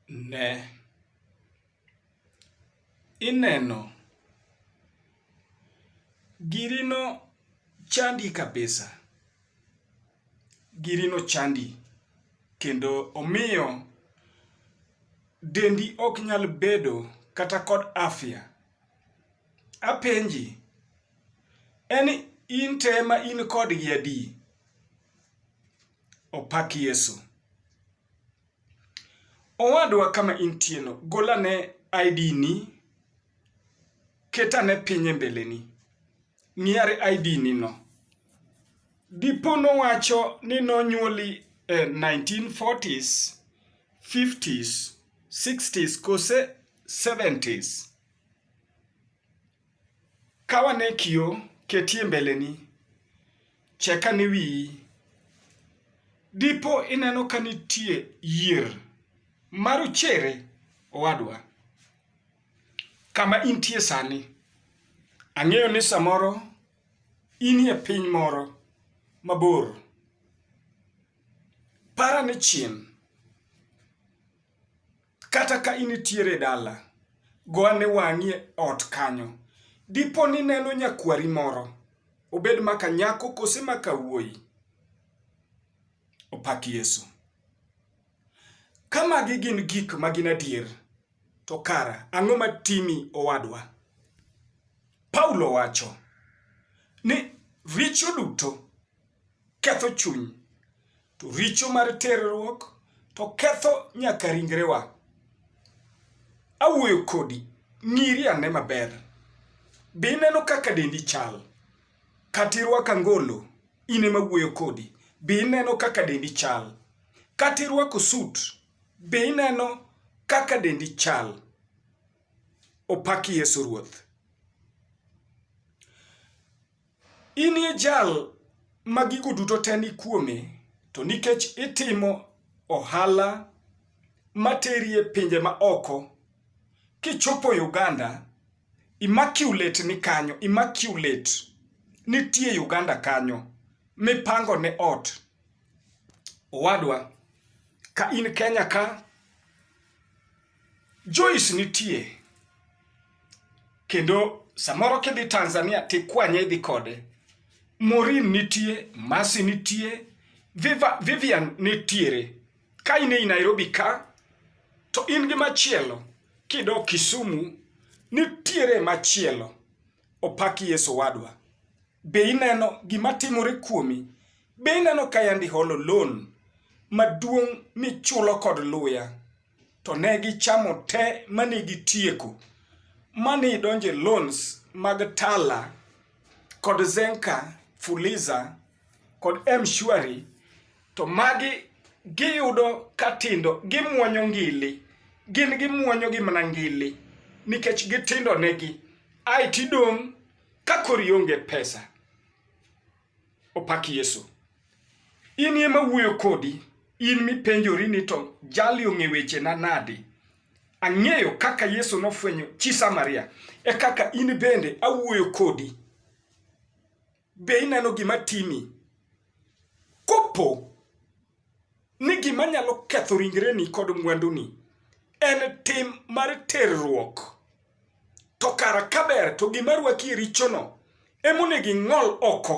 Ne! Ineno? Giri no chandi kabisa. Giri no chandi kendo omiyo dendi ok nyal bedo kata kod afya. Apenji, en in te ma in kodgi adi? Opak Yesu. Owadwa kama intieno, gol ane ID ni, ket ane piny e mbeleni. Ng'i are ID ni no. Dipo nowacho ni nonyuoli e 1940s, 50s, 60s kose 70s. Ka wane kio, ketie mbeleni, check ane wiyi. Dipo ineno ka nitie yier ma rochere owadwa kama intie sani. Ang'eyo ni samoro inie piny moro mabor. Par ane chien. Kata ka initiere dala, go ane wang'i e ot kanyo. Dipo ni ineno nyakwari moro, obed maka nyako kose maka wuoyi. Opak Yesu! Ka magi gin gik ma gin adier, to kara ang'o ma timi owadwa? Paulo wacho ni richo duto ketho chuny, To richo mar terruok to ketho nyaka ringrewa. Awuoyo kodi, ng'iri ane maber. Be ineno kaka dendi chal? Kata irwako angolo, in ema awuoyo kodi. Be ineno kaka dendi chal? Kata irwako sut, be ineno kaka dendi chal? Opak Yesu Ruoth. In e jal ma gigo duto te ni kuome, to nikech itimo ohala materi e pinje ma oko, kichopo e Uganda, immaculate ni kanyo, immaculate nitie Uganda kanyo mipango ne ot. Owadwa, ka in Kenya ka, Joyce nitie. kendo samoro kidhi Tanzania tikwanye idhi kode. Maureen nitie, Mercy nitie, Viva, Vivian nitiere. Ka in ei Nairobi ka to in gi machielo kidok Kisumu nitiere machielo. Opak Yesu wadwa. Be ineno gima timore kuomi? Be ineno ka yandi holo loan maduong' michulo kod luya? to ne gichamo te mane gitieko mane idonje loans mag Tala kod Zenka Fuliza kod Mshwari to magi giyudo katindo gimwonyo ngili gin gimwonyo gi mana ngili nikech gitindo negi ae tidong' ka kori onge pesa Opak Yesu. In ema wuoyo kodi, in mipenjori ni to jali ong'e wechena nadi? Ang'eyo kaka Yesu nofwenyo chi Samaria, e kaka in bende awuoyo kodi. Be ineno gima timi? Kopo ni gima nyalo ketho ringreni kod mwanduni en tim mar terruok to kara kaber to gima rwaki e richono emonego ing'ol oko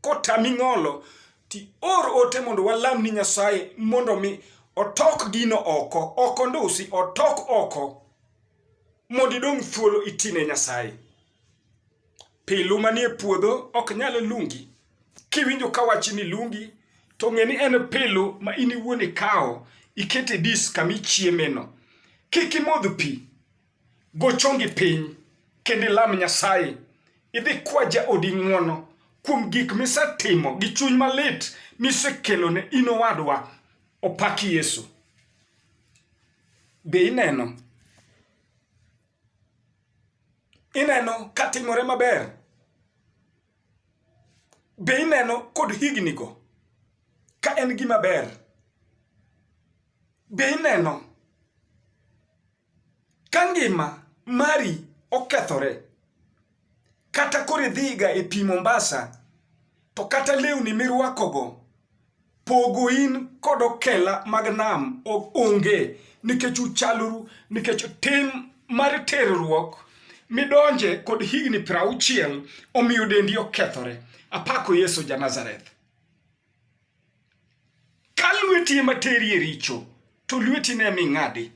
kotami ng'olo ti or ote mondo walam ni nyasaye mondo mi otok gino oko ok ondusi otok oko mondo idong' thuolo itine nyasaye Pilu manie puodho ok nyal lungi. Kiwinjo ka wachi ni lungi, to ng'e ni en pilu ma in iwuon ikawo ikete dis kama ichiemeno. Kik imodh pi, go chongi piny kendo ilam Nyasaye. Idhi kwa jaodi ng'wono kuom gik misetimo gi chuny malit misekelo ne in owadwa. Opak Yesu. Be ineno? ineno katimore maber be ineno kod hignigo ka en gima ber be ineno ka ngima mari okethore Kata koro idhiga e pi Mombasa to kata lewni mirwakogo pogo in kod okela mag nam onge nikech uchaloru nikech tim mar terruok midonje kod higni piero auchiel omiyo dendi okethore. Apako Yesu ja Nazareth. Ka lweti ema teri e richo, to lweti ne mi ng'adi.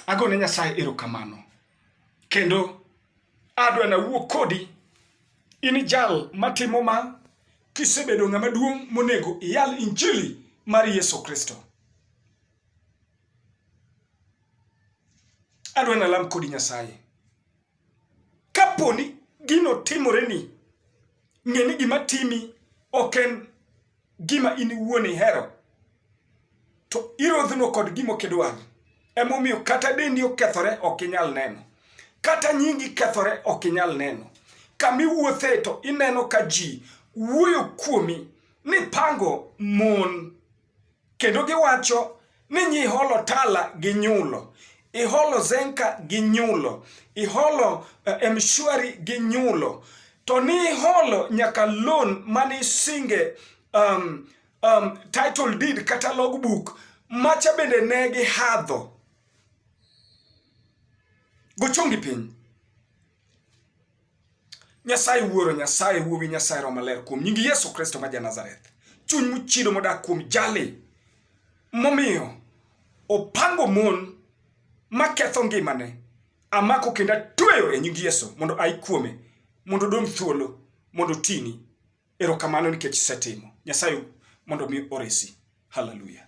Agone Nyasaye erokamano. Kendo adwa na wuo kodi in jal matimo ma kisebedo ng'ama duong' monego iyal injili mar Yesu Kristo. Adwa na lam kodi Nyasaye. Kapo ni gino timoreni, ng'e ni gima timi ok en gima in iwuon ihero, to irodhno kod gima ok idwar. Emomiyo kata dendi okethore ok inyal neno, kata nyingi kethore ok inyal neno. Kama iwuothe to ineno ka ji wuoyo kuomi ni pango mon. Kendo giwacho ni nyi iholo tala gi nyulo iholo zenka gi nyulo iholo uh, eh, mshwari gi nyulo to ni iholo nyaka loan mane isinge um, um, title deed kata logbook macha bende ne gihadho gochongi piny Nyasaye Wuoro, Nyasaye Wuowi, Nyasaye Roho Maler, kuom nying Yesu Kristo ma Janazareth, chuny mochido modak kuom jali momiyo opango mon maketho ngimane, amako kendo atweyo e nying Yesu mondo ai kuome, mondo odong' thuolo, mondo otini. Erokamano nikech isetimo. Nyasaye mondo mi oresi. Hallelujah.